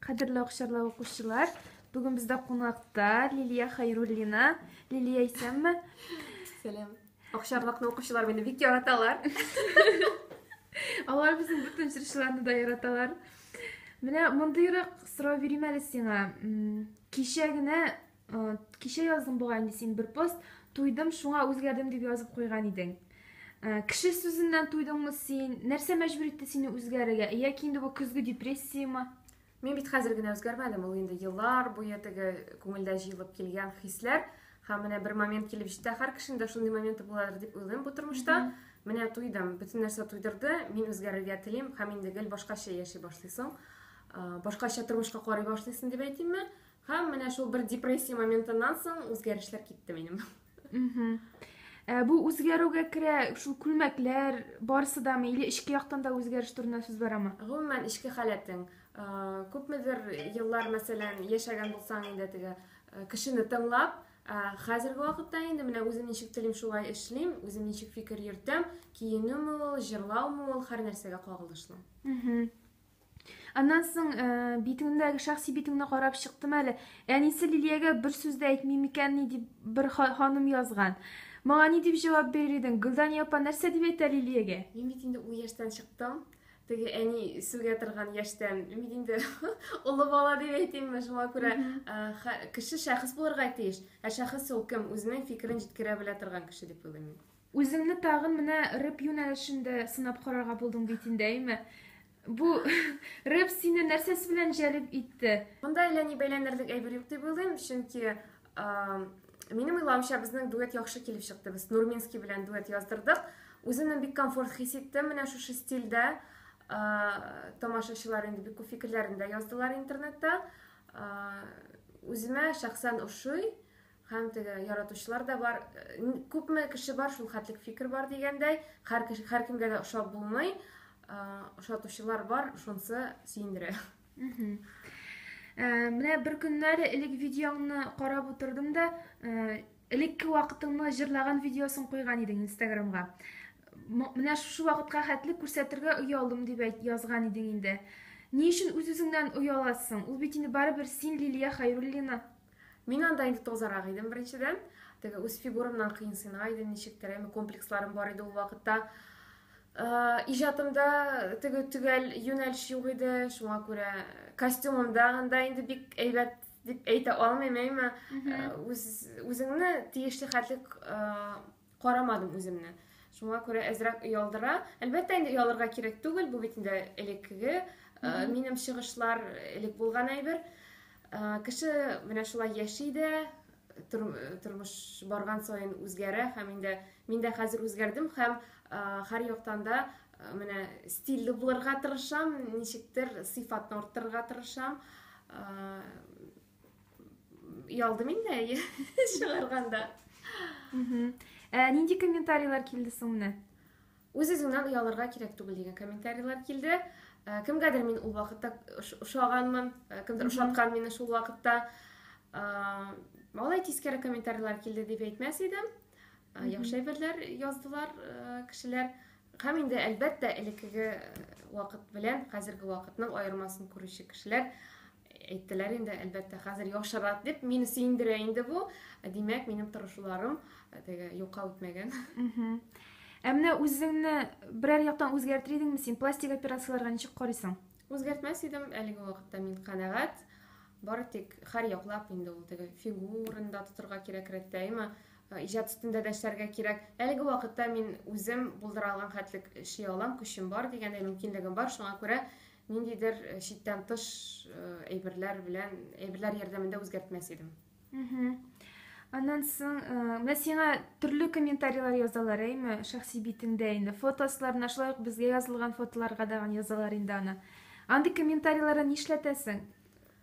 Кадерле акчарлы укучылар, бүген бездә кунакта Лилия Хайруллина. Лилия исәнме? Сәлам. Акчарлыкны укучылар мине бик яраталар. Алар безнең бөтен җырчыларны да яраталар. Менә мондыйрак сорау бирим әле сиңа. Кичә генә Кичә яздың бугай инде син бер пост, туйдым, шуңа үзгәрдем дип язып куйган идең. Кеше сүзеннән туйдыңмы син? Нәрсә мәҗбүр итте сине үзгәрергә? Яки инде бу көзге депрессиямы? Мин бит хәзер генә үзгәрмәдем, ул инде еллар буе теге күңелдә җыелып килгән хисләр. Һәм менә бер момент килеп җитте, һәр кешенең дә шундый моменты буладыр дип уйлыйм бу тормышта. Менә туйдым, бөтен нәрсә туйдырды, мин үзгәрергә телим һәм инде гел башкача яши башлыйсың, башкача тормышка карый башлыйсың дип әйтимме? Һәм менә шул бер депрессия моментыннан соң үзгәрешләр китте минем. Ә, бу үзгәрүгә керә шул күлмәкләр барысы да или эчке яктан да үзгәреш турында сүз барамы? Гомумән эчке халәтең. Ә, күпмедер еллар, мәсәлән, яшәгән булсаң инде теге ә, кешене тыңлап, ә, хәзерге вакытта инде менә үзем ничек телим шулай эшлим, үзем ничек фикер йөртәм, киенүме ул, җырлаумы ул, һәр нәрсәгә кагылышлы. Аннан соң э, битеңдәге шәхси битеңне карап чыктым әле. Әнисе Лилиягә бер сүз дә әйтмим икән ни дип бер ханым язган. Моңа ни дип җавап бирер идең? Гөлдан япа нәрсә дип әйтә Лилиягә? Мин бит инде ул яшьтән чыктым. Теге әни сүгә торган яшьтән. Мин бит инде олы бала дип әйтимме, шуңа күрә э, кеше шәхес булырга тиеш. Ә шәхес ул кем? Үзенең фикерен җиткерә белә торган кеше дип уйлыйм мин. Үзеңне тагын менә рэп юнәлешендә сынап карарга булдың бит инде, әйме? Бу рэп сине нәрсәсе белән җәлеп итте? Монда әллә ни бәйләнерлек әйбер юк дип уйлыйм, чөнки минем уйлавымча безнең дуэт яхшы килеп чыкты. Без Нурминский белән дуэт яздырдык. Үземне бик комфорт хис иттем менә шушы стильдә. Тамашачылар инде бик күп фикерләрен дә яздылар интернетта. Үземә шәхсән ошый. Һәм теге яратучылар да бар. Күпме кеше бар, шул хәтлек фикер бар дигәндәй, һәркемгә дә ошап булмый. Ошатучылар бар, шунсы сөендерә. Менә бер көннәре элек видеоңны карап утырдым да, элекке вакытыңны җырлаган видеосын куйган идең Инстаграмга. Менә шушы вакытка хәтле күрсәтергә оялдым дип язган идең инде. Ни өчен үз-үзеңнән ояласың? Ул бит инде барыбер син Лилия Хайруллина. Мин анда инде тозарак идем беренчедән. Теге үз фигурамнан кыенсына иде ничектер, әме комплексларым бар иде ул вакытта. Э, иҗатымда теге төгәл юнәлеш юк иде, шуңа күрә костюмымда анда инде бик әйбәт дип әйтә алмыйм, әмма э, үз, үзеңне тиешле хәтлек э, карамадым үземне. Шуңа күрә әзрәк оялдыра. Әлбәттә, инде оялырга кирәк түгел, бу бит инде элеккеге минем чыгышлар, элек булган әйбер. Кеше менә шулай яши дә, тормыш барган саен үзгәрә һәм инде мин дә хәзер үзгәрдем һәм һәр яктан да менә стильле булырга тырышам, ничектер сыйфатны арттырырга тырышам. Ялдым инде әйе чыгарганда. Ә нинди комментарийлар килде соң менә? Үз-үзеңнән оялырга кирәк түгел дигән комментарийлар килде. Ә, кемгәдер мин ул вакытта ошаганмын, ә, кемдер ошаткан мине шул вакытта. Алай тискәре комментарийлар килде дип әйтмәс идем. Ә, яхшы әйберләр яздылар кешеләр. Һәм инде әлбәттә элеккеге вакыт белән хәзерге вакытның аермасын күрүче кешеләр әйттеләр инде әлбәттә хәзер яхшырак дип мине сөендерә инде бу димәк минем тырышуларым э, теге юкка үтмәгән ә менә үзеңне берәр яктан үзгәртер идеңме син пластик операцияләргә ничек карыйсың үзгәртмәс идем әлеге вакытта мин канәгать бары тик һәр яклап инде ул теге фигурында тотырга кирәк рәттәйме э, иҗат өстендә дә эшләргә кирәк әлеге вакытта мин үзем булдыра алган хәтлек эшли алам көчем бар дигәндәй мөмкинлегем бар шуңа күрә Ниндидер э, читтән тыш э, әйберләр белән, әйберләр ярдәмендә үзгәртмәс идем. Аннан соң, э, менә сиңа төрле комментарийлар язалар, әйме, шәхси битеңдә инде. Фотосларына, шулай ук безгә язылган фотоларга да язалар инде аны. Андый комментарийларны нишләтәсең?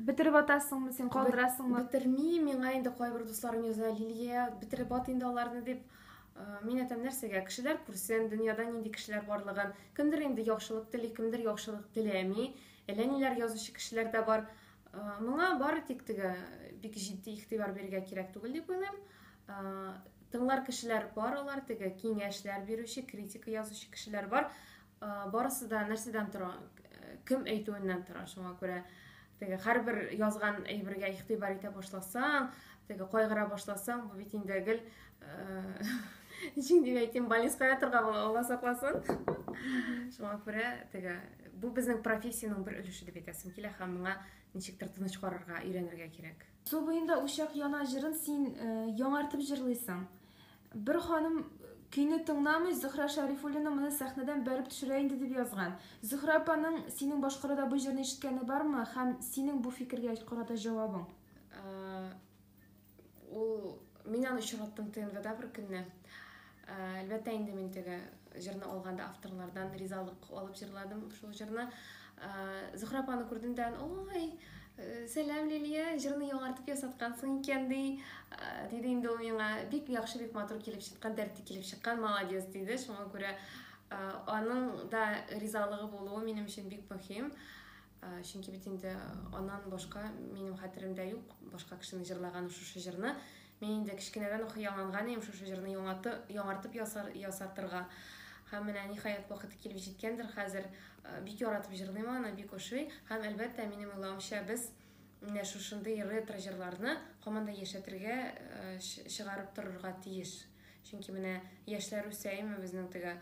Бетереп атасыңмы син, калдырасыңмы? Бетерми, миңа инде кайбер дусларым яза, Лилия, бетереп ат инде аларны дип. Э, мин әйтәм, нәрсәгә? Кешеләр күрсен, дөньяда нинди кешеләр барлыгын. Кемдер инде яхшылык тели, кемдер яхшылык теләми. Әллә ниләр язучы кешеләр дә бар. Э, моңа бары тик теге бик җитди игътибар бирергә кирәк түгел дип уйлыйм. Э, тыңлар кешеләр бар алар, теге киңәшләр бирүче, критика язучы кешеләр бар. Барысы да нәрсәдән тора? Кем әйтүеннән тора. Шуңа күрә теге һәрбер язган әйбергә игътибар итә башласаң, теге кайгыра башласаң, бу бит инде гел ничек дип әйтим, балиская ятырга була, Алла сакласын. Шуңа күрә теге бу безнең профессиянең бер өлеше дип әйтәсем килә һәм моңа ничектер тыныч карарга, өйрәнергә кирәк. Су буенда учак яна җырын син яңартып җырлыйсың. Бер ханым көйне тыңламый, Зөһрә Шәрифуллина моны сәхнәдән бәреп төшерә инде дип язган. Зөһрә апаның синең башкаруда бу җырны ишеткәне бармы һәм синең бу фикергә карата җавабың? Ул мин аны очраттым ТНВда бер көнне. Әлбәттә инде мин теге җырны алганда авторлардан ризалык алып җырладым шул җырны. Зөхрә апаны күрдем дә, ой, сәлам Лилия, җырны яңартып ясаткансың икән ди, диде инде ул миңа. Бик яхшы, бик матур килеп чыккан, дәрте килеп чыккан, молодец диде. Шуңа күрә аның да ризалыгы булуы минем өчен бик мөһим. Чөнки бит инде аннан башка минем хәтеремдә юк башка кешенең җырлаганы шушы җырны. Мин инде кечкенәдән үк хыялланган идем шушы җырны яңарты, яңартып ясар, ясатырга. Һәм менә ниһаять вакыты килеп җиткәндер хәзер. Бик яратып җырлыйм аны, бик ошый. Һәм, әлбәттә, минем уйлавымча, без менә шушындый ретро җырларны һаман да яшәтергә, чыгарып торырга тиеш. Чөнки менә яшьләр үсәеме безнең теге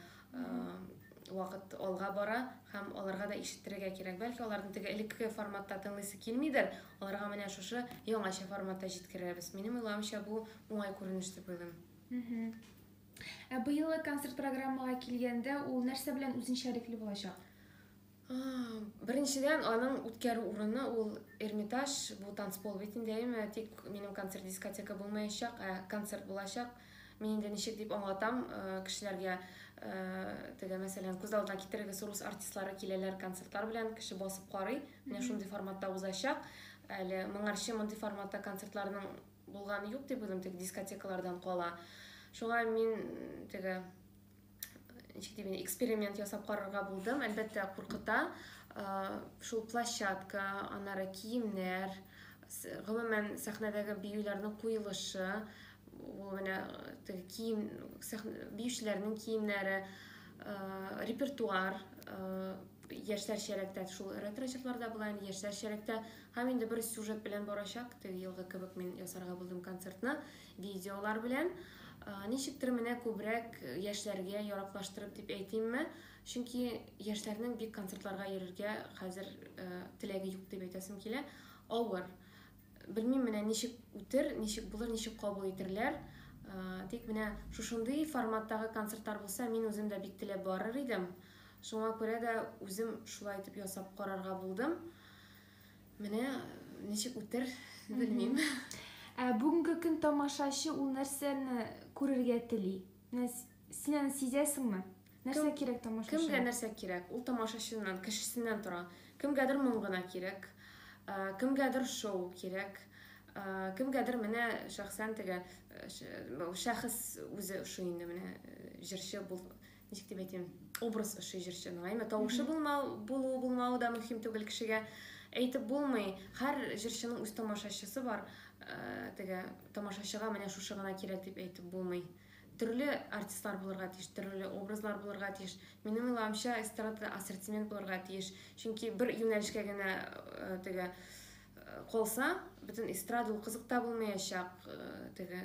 вакыт алга бара һәм аларга да ишеттерергә кирәк. Бәлки аларның теге элекке форматта тыңлыйсы килмидер, аларга менә шушы яңача форматта җиткерәбез. Минем уйлавымча бу уңай күренеш дип уйлыйм. Ә быелгы концерт программага килгәндә, ул нәрсә белән үзенчәлекле булачак? Беренчедән, аның үткәрү урыны ул Эрмитаж, бу танцпол бит инде, әйме? Тик минем концерт дискотека булмаячак, ә концерт булачак. Мин инде ничек дип аңлатам э, кешеләргә, э, теге, мәсәлән, күз алдына китерегез, рус артистлары киләләр концертлар белән, кеше басып карый. Менә шундый форматта узачак. Әле моңарчы мондый форматта концертларның булганы юк дип уйлыйм, теге дискотекалардан кала. Шуңа мин теге ничек дим эксперимент ясап карарга булдым әлбәттә куркыта шул площадка аннары киемнәр гомумән сәхнәдәге биюләрнең куелышы ул менә теге кием биючеләрнең киемнәре репертуар яшьләр чәрәктә шул ретро чорларда була инде яшьләр чәрәктә һәм инде бер сюжет белән барачак теге елгы кебек мин ясарга булдым концертны Видеолар белән, ничектер менә күбрәк яшьләргә яраклаштырып дип әйтимме, чөнки яшьләрнең бик концертларга йөрергә хәзер теләге юк дип әйтәсем килә. Авыр. Белмим менә ничек үтер, ничек булыр, ничек кабул итерләр. Тик менә шушындый форматтагы концертлар булса, мин үзем дә бик теләп барыр идем. Шуңа күрә дә үзем шулай итеп ясап карарга булдым. Менә ничек үтер, белмим. Ә бүгенге көн тамашачы ул нәрсәне күрергә тели? Менә син аны сизәсеңме? Нәрсә кирәк тамашачыга? Кемгә нәрсә кирәк? Ул тамашачыннан, кешесеннән тора. Кемгәдер моң гына кирәк, кемгәдер шоу кирәк, кемгәдер менә шәхсән теге шәхес үзе ошый инде менә җырчы бул, ничек дип әйтим образ ошый җырчының әйме тавышы булмау булу булмауы да мөһим түгел кешегә әйтеп булмый һәр җырчының үз тамашачысы бар ә, теге тамашачыга менә шушы гына кирәк дип әйтеп булмый төрле артистлар булырга тиеш төрле образлар булырга тиеш минем уйлавымча эстрадада ассортимент булырга тиеш чөнки бер юнәлешкә генә ә, теге калса бөтен эстрада ул кызык та булмаячак ә, теге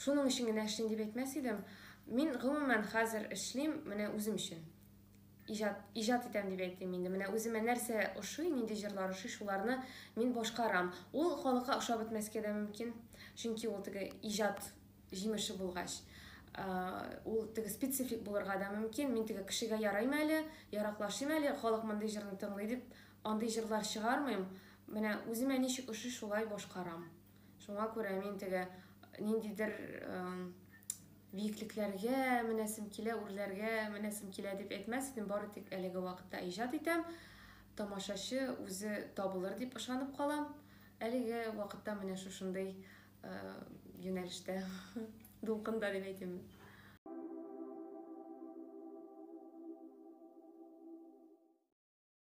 Шуның өчен генә эшлим дип әйтмәс идем. Мин, гомумән, хәзер эшлим менә үзем өчен. Иҗат, иҗат итәм дип әйтим инде. Менә үземә нәрсә ошый, нинди җырлар ошый, шуларны мин башкарам. Ул халыкка ошап бетмәскә дә мөмкин, чөнки ул теге иҗат җимеше булгач, ул теге специфик булырга да мөмкин. Мин теге кешегә ярыйм әле, яраклашыйм әле, халык мондый җырны тыңлый дип, андый җырлар чыгармыйм. Менә үземә ничек ошый, шулай башкарам. Шуңа күрә мин теге ниндидер биеклекләргә менәсем килә, үрләргә менәсем килә дип әйтмәс идем, бары тик әлеге вакытта иҗат итәм. Тамашачы үзе табылыр дип ышанып калам. Әлеге вакытта менә шушындый юнәлештә, дулкында дип әйтим.